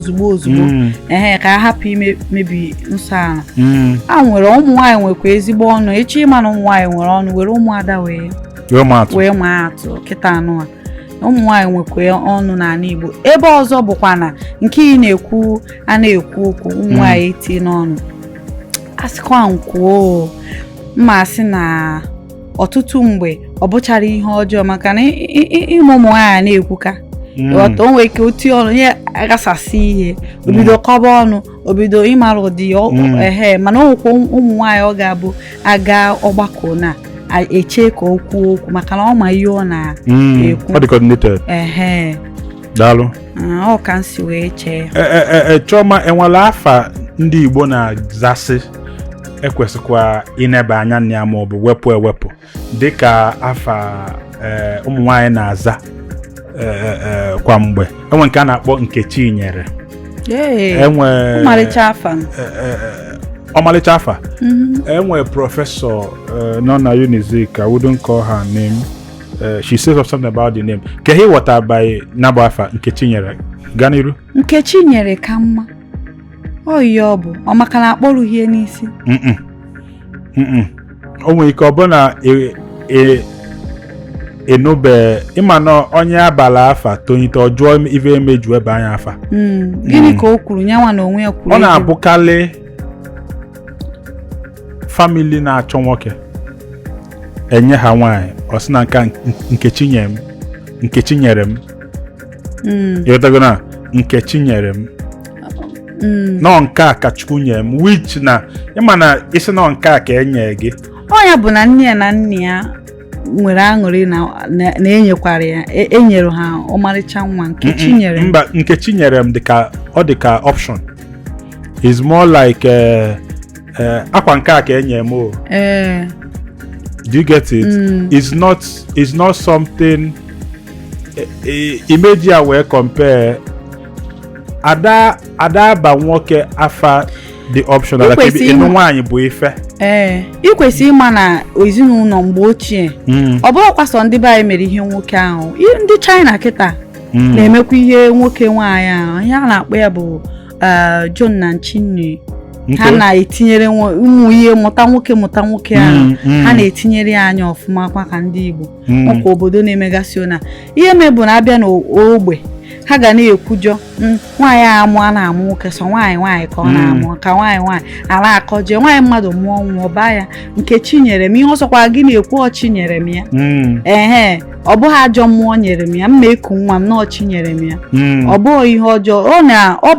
ozugbo ozugbo mm. ee ka a hapụ imebi nsọ ala mm. a nwere ụmụ nwaanyị nwekwa ezigbo ọnụ echi ịma na ụmụ nwaanyị nwere ọnụ were ụmụada wee wee maa atụ kịtaa nụwa ụmụ nwaanyị nwekwa ọnụ n'ala Igbo ebe ọzọ bụkwa na nke ị na-ekwu a na-ekwu okwu ụmụ mm. nwaanyị etinye ọnụ asịkwa nkwuo mma asị na ọtụtụ mgbe ọ bụchara ihe ọjọọ maka na ịma ụmụ nwaanyị na-ekwuka hmm. ghọta o nwere ike o tie ọnụ ya aghasasị ihe hmm. o bido kọba ọnụ o bido ịmara ụdị ya hmm. ehe mana ọ nwekwa ụmụ nwaanyị ọ ga-abụ a gaa ọgbakọ na-eche ka o kwuo okwu maka na ọ ma ihe ọ na-ekwu ehe daalụ ah, ọ ka m si wee chee e, e, e, Chioma enwere afa ndị Igbo na-azasị ekwesịkwa ineba anya na ya ma ọ bụ wepụ ewepụ dịka afa ee, ụmụ nwaanyị na-aza ee, ee, kwa mgbe enwe nke a na-akpọ Nkechinyere Ee, enwe ọmarịcha afa m. ee, ee, ee, ọmalịcha afa Mhm. enwe prọfesọ eh, nọ na Unizik I wouldn't call her name Eh, she says something about the name kee ihe ị ghọta by nabụ afa Nkechinyere gaa n'iru Nkechinyere ka mma ọ ihe ọ bụ ọ maka na akpọrughị ya n'isi Mm-mm. Mm-mm. o nwere ike ọ bụ na e- e- enube ịma na onye a bala afa tonite ọ jụọ ife emeji wee ba nya afa Mm, gịnị ka o kwuru nyanwa na onwe ya kwuru ọ ego. na-abụkarị family na-achọ nwoke e nye ha nwaanyị ọ sị na nka nke chi nyere m nke chi nyere m Mm. ịghọtago na nke chi nyere m Mm. na ọ nke a ka Chukwu nyere m which na ịma na ị sị na ọ nke a ka e nyere gị ọ ya bụ na nne ya na nna ya nwere aṅụrị na na- na enyekwara ya e- enyere ha ọmarịcha nwa nke chi nyere m. mba nke chi nyere m dịka ọ dịka option is more like eh, eh, akwa nke a ka e nyere m o ee do you get it Mm. it's not it's not something imeji ya wee compare ada ada aba nwoke afa the option like Ikwesị ịnụ ịma. nwaanyị bụ ife ee ị kwesịrị ịma na ezinụlọ mgbe ochie Mm, ọ bụrọkwa sọ ndị be anyị mere ihe nwoke ahụ I- ndị China kịta mm. na-emekwa ihe nwoke nwaanyị ahụ ihe a na-akpọ ya bụ eh, zhong nan qing nu ha Okay. na-etinyere nwo- ụmụ ihe mụta nwoke mụta nwoke ahụ Mm, mm. ha na-etinyere ya anya ọfụma kwa ka ndị Igbo hmm. ọkwa obodo na-emegasị ọ na ihe mee bụ na abịa n'ogbe ha ga na-ekwujọ hmm, nwaanyị a amụ a na-amụ nwoke sọ nwaanyị nwaanyị ka ọ hmm. na-amụ ka nwaanyị nwaanyị a na-akọje nwaanyị mmadụ mụọ nwa ọ baa ya nke chi nyere m ihe ọ sọkwa gị na-ekwu ọ chi nyere m ya ee ọ bụghị ajọ mmụọ nyere m ya m ma-eku nwa m na ọ chi nyere m ya ọ bụghị ihe ọjọọ ọ na